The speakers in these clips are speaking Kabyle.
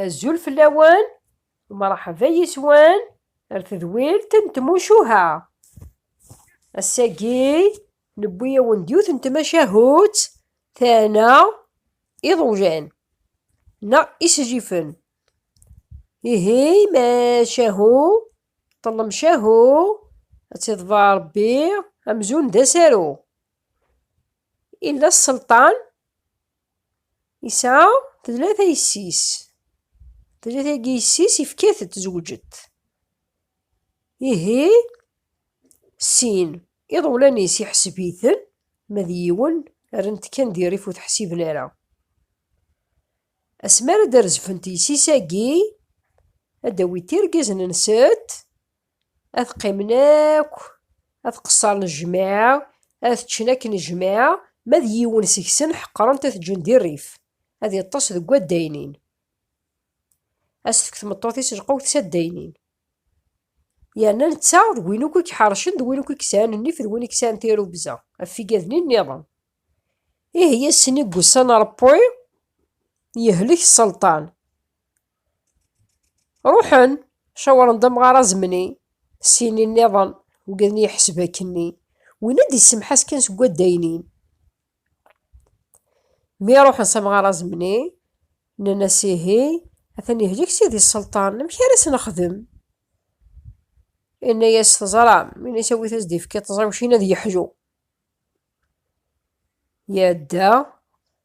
Azul fell-awen, mṛeḥba yis-wen ar tedwilt n tmucuha. Ass-agi newwi-awen-d yiwet n tmacahut tana iḍewjan neɣ isijifen. Ihi macahu ṭellem cahu ad tiḍba Ṛebbi amzun d asaru. Illa sselṭan Yesɛa tlata yessi-s. Tlata-agi yessi-s ifka-t-ed zewǧet. Ihi sin iḍewlan-is iḥseb-iten ma d yiwen rren-t kan di rrif ur t-ḥsiben ara. Asmi ara d-rezfent yessi-s-agi ad d-awint irgazen-nsent Ad qqimen akk, ad qeṣṣren jmaɛa, ad ččen akken jmaɛa, ma d yiwen seg-sen ḥeqren-t ad t-ǧǧen di rrif, ad iṭṭes deg waddaynin. Ad s-tefk tmeṭṭut-is lqewt s addaynin. Yerna netta d win akk i iḥercen, d win akk i yesɛan nnif, d win i yesɛan tirrugza, ɣef igadni nniḍen. Ihi ass-nni n wussan Ṛebbi, yehlek sselṭan, Ruḥen, cawren-d amɣar azemni, syin nniḍen, ugaden yeḥseb akkenni, win ad d-yessemḥas kan seg waddaynin. Mi ruḥen s amɣar azemni, nnan-as ihi, atan yehlik sidi sselṭan, amek ara s-nexdem? Inna-yas teẓram, ini-s awit as d-ifki ṭẓiwcin ad yeḥlu. Yadda,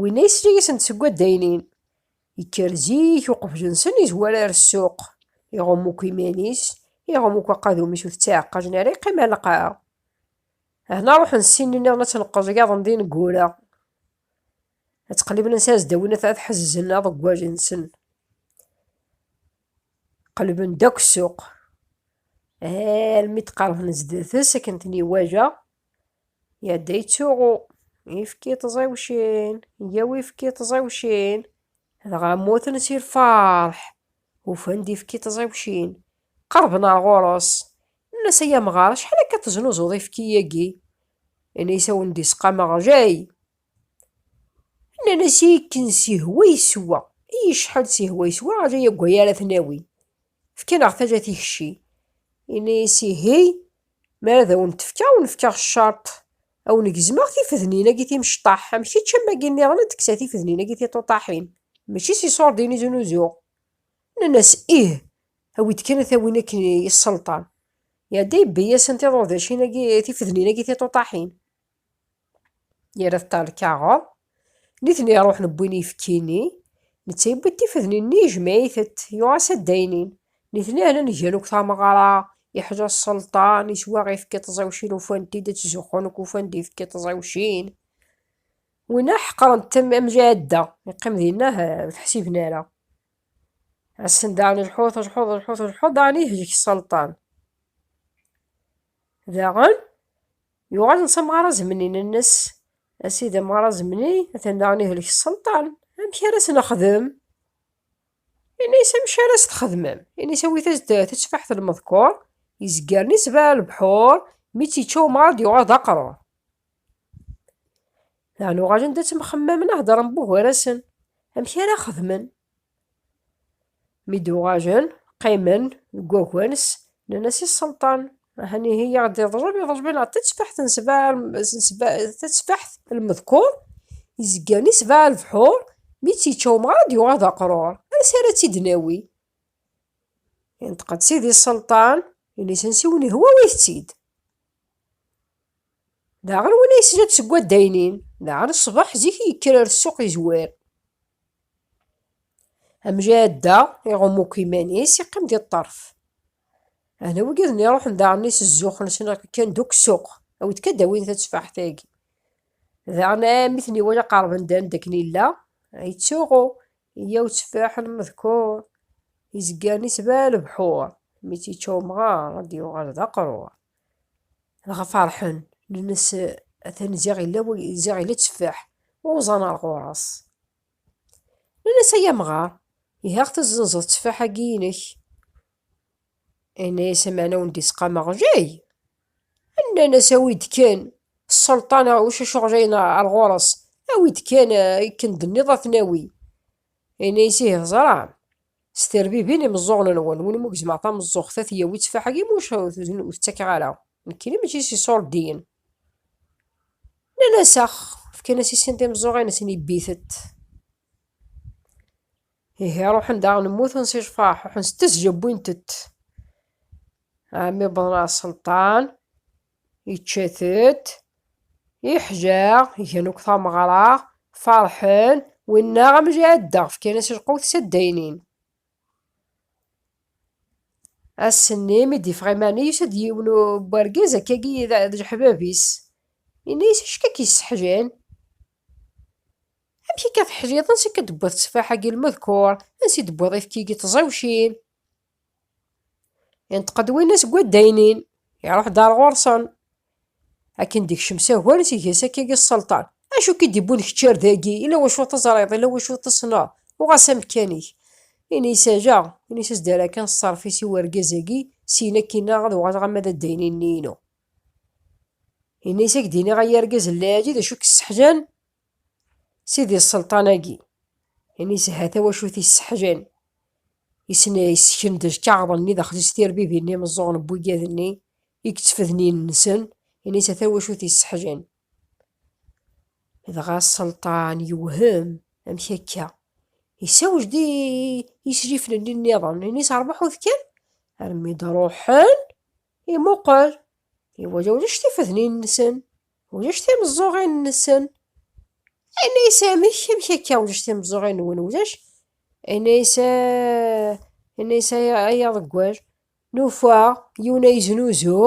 Winna yesli-yasent seg waddaynin. Yekker zik uqbel-nsen, izwar ar ssuq. Iɣum akk iman-is, iɣum akk aqadum-is ur t-ttaɛeqqajen ara, yeqqim ar lqaɛa. Ahna ruḥen ssinen-nniḍen ad tenqeẓ iyaḍen d ineggura. Ad ttqelliben ansi ad s-dawin ad ḥezzen aḍeggwaj-nsen. Qelben-d akk ssuq. Almi d-qerben zdat-s akken ten-iwaja, Yadda yettsuɣu, ifki ṭẓiwcin, yyaw ifki ṭẓiwcin. Dɣa mmuten si lferḥ, ufan-d ifki ṭẓiwcin. Qerben ar ɣur-s, nnan-as ay amɣar acḥal akka teznuzuḍ ifki-agi? Ini-as a wen-d-isqameɣ jay. Nnan-as ikken sihwa yeswa, i yecḥal sihwa yeswa, ajay agway ara t-nawi. Fkan-aɣ tala tikci. Ini-as ihi, mi ara ad awen-t-fkeɣ, ad wen-fkeɣ ccerṭ, ad wen-gezmeɣ tifednin-agi timecṭaḥ, am kečč am wagi nniḍen ad d-kkseɣ tifednin-agi tiṭuṭaḥin, mačči s iṣurdiyen i zunuzuɣ. Nnan-as, Ih, awi-d kan ad t-awin akken i yesselṭan. Iɛedda yebbi-yasen tiḍudacin-agi, tifednin-agi tiṭuṭaḥin. yerra ṭṭal lkaɣeḍ, nitni ruḥen wwin ifekki-nni, netta yewwi-d tifednin-nni yejmeɛ-itent, yuɣ-as addaynin. Nitni hlan gan akk tameɣra, yeḥla sselṭan, yettwaɣ ifekki ṭẓiwcin ufan-t-id ad ttzuxxun akk ufan-d ifekki ṭẓiwcin. Winna ḥeqren-t am am jɛadda, yeqqim dinna ur t-ḥsiben ara. Assen daɣen lḥut, lḥut, lḥut, lḥut, daɣen ihjek sselṭan. Daɣen, yuɣal n samɣar azemni-nnes, a sidi amɣar azemni atan daɣen ihlek sselṭan, amek ara as-nexdem? Ini-as amek ara as-txedmem, ini-as awit-as-d tatteffaḥt n lmeḍkur, izgaren isbaɛ lebḥur, mi tt-yečča umɣar ad d-yuɣal d aqrur. Daɣen uɣalen d ad ttemxemmamen ad heddren bugar-asen, amek ara xedmen? Mi d-uɣalen, qqimen deg waggan-s, nnan-as i sselṭan, Ahan ihi i aɣ-d-iḍlem, iḍlem-aneɣ neɣ tatteffaḥt n sebɛa, tatteffaḥt n lmedkur, izeggan i sebɛa lebḥur, mi tt-yečča umɣar ad yuɣal d aqrur, ansi ara tt-id-nawi? Yenṭeq-d sidi sselṭan, ini-asen siwen ihwa awit-tt-id. Daɣen win ay slant seg waddaynin, daɣen ṣṣbeḥ zik i yekker ar ssuq yezwir. Amjadda iɣum akk iman-is, yeqqim di ṭṭerf. Ahna wigaden iruḥen daɣen i s-zzuxen-sen kkan dukk ssuq, awid kan d-awin tatteffaḥt-agi. Daɣen mi ten-iwala qerben-d anda akken yella, yettsuɣu, yyaw tteffaḥ n medkur, izgan-is d lebḥur, mi tt-yečča umɣar ad d-yuɣal d aqrur. dɣa ferḥen nnes atan ziɣ illa ziɣ illa tteffaḥ uẓan ar ɣur-s nnas ay amɣar ihi aɣ tezzenzeḍ tteffaḥ-agi inek inna-yas ameɛna wen d-isqameɣ jay nnan-as awi-d kan sselṭan ucac uɣjay ar ɣur-s awi-d kan akken d-nniḍ ad ten-awi Ini-as ihi ẓran. S terbibin imeẓẓuɣen-nwen, win umi gezmeɣ tameẓẓuɣt ad t-yawi ttfaḥ-agi, muc ur t-ttakeɣ ara. Nekkini mačči s iṣurdiyen. Nnan-as ax, fkan-as i sin timeẓẓuɣin-nsen ibbit-t. Ihi ruḥen daɣen mmuten si cfaḥ, ruḥen s tezja wwint-t. Ɛemmi wwḍen ɣer Selṭan. Yečča-tent, yeḥja, gan akk tameɣra, ferḥen, winna am jɛeddaɣ, fkan-as lqut s addaynin. Ass-nni mi d-yeffeɣ iman-is, yusa-d yiwen n wergaz akkagi d leḥbab-is. Yenna-yas, acu akka k-yesseḥjan? Amek akka teḥjiḍ? Ansi akka d-tewwiḍ tteffaḥ-agi lmedkur? Ansi d-tewwiḍ ifki-agi tẓiwcin? Inṭeq-d winna seg waddaynin, iruḥ-d ar ɣur-sen. Akken d-ikcem s agar i tges akka i sselṭan. Acu k-id-iwwin kečč ar dagi, ila wacu teẓriḍ, ila wacu tessneḍ, uɣal s amekkan-ik. Ini-as ala, ini-as ad s-d-err akan ṣṣerf-is i wergaz-agi, syin akkin-a ad uɣaleɣ ama d addaynin-nni-inu. Ini-as ad k-d-iniɣ ay argaz n Laɛli d acu i k-sseḥzan, Sidi Sselṭan-agi, imi isha tawacult yesseḥjan, yessken-d lkaɣeḍ-nni daxel-is tirbibin n yimeẓẓuɣen n wiggad-nni i yettefden yinelsen, imi isha tawacult yesseḥjan. Dɣa Sselṭan yewhem, amek akka? Isawj-d i yislifen-nni nniḍen, imi isrebaḥ udekkan, armi d-ruḥen. Imuqel, iwala ulac tifednin-nsen, ulac timeẓẓuɣin-nsen. Yenna-yas amek, amek akka ulac timeẓẓuɣin-nwen, ulac? Yenna-yas, yenna-yas ay aḍeggal, nufa yiwen ay znuzu,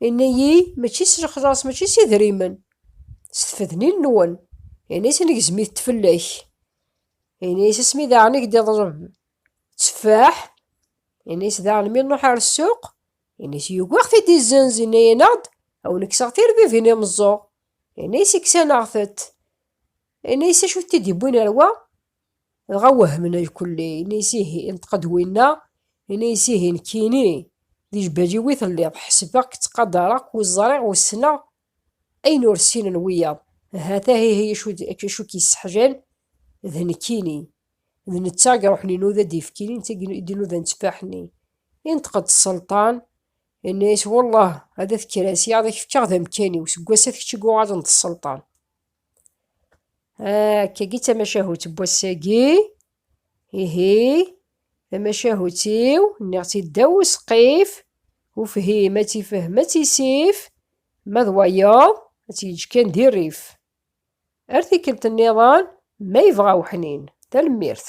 yenna-yi mačči s lexlaṣ, mačči s idrimen, s tfednin-nwen. Yenna-yas negzem-it fell-ak. Yenna-yas asmi daɣen i k-d-iḍleb Tteffaḥ, ini-s daɣen mi nruḥ ar ssuq, ini-s yugi ad ɣ-t-id izzenz, ini-aneɣ-d a wen-kkseɣ tirbibin i meẓẓuɣ, ini-s kksaneɣ-tent, ini-s acu i t-id-yewwin ar wa? Dɣa wehmen lkulli, ini-s ihi, inṭeq-d winna, ini-s ihi nekkini, di jbali-w i telliḍ, ḥesbeɣ-k ttqadareɣ-k ur ẓriɣ ur ssneɣ, Ayen ur ssinen wiyaḍ, ha-t-a ihi acu k-yesseḥjan, d nekkini, d netta i iruḥen inuda-d ifekki-nni, netta i d-inudan tteffaḥ-nni. Inṭeq-d Sselṭan, yenna-yas, Wellah, ad at-kras, yaḍ ak-fkeɣ d amekkan-iw, seg wass-a d kečč i yuɣalen d Sselṭan. Akkagi d tamacahut n wass-agi. Ihi, tamacahut-iw, nniɣ-tt-id ddaw usqif, ufhim ad tifhem ad tisif, ma d wayeḍ ad tt-yeǧǧ kan di rrif. Ar tikkelt nniḍen, ma yebɣa weḥnin. Tanemmirt.